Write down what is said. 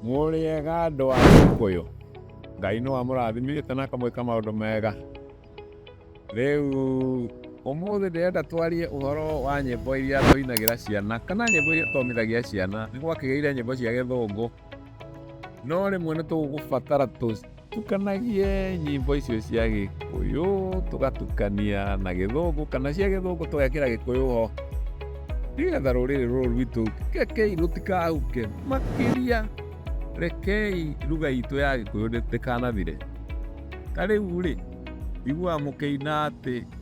Mũrĩega andũ a Gĩkũyũ, Ngai nĩ wamũrathimĩte na akamwĩka maũndũ mega. Rĩu ũmũthĩ ndĩrenda twarie ũhoro wa nyĩmbo iria tũinagĩra ciana kana nyĩmbo iria tũthomithagia ciana. Nĩ gwakĩgĩire nyĩmbo cia gĩthũngũ. no rä mwe nä tå gå batara tå tukanagie nyimbo icio cia gä kå yå tå gatukania na gä thå ngå kana cia gä thå ngå tå gekä ra gä kå yå ho nĩgetha rũrĩrĩ rũrũ rwitũ rekei rũtikahuke makĩria rekei ruga itũ ya gĩkũyũ ndĩkanathire ta rĩu rĩ iguaga mũkĩina atĩ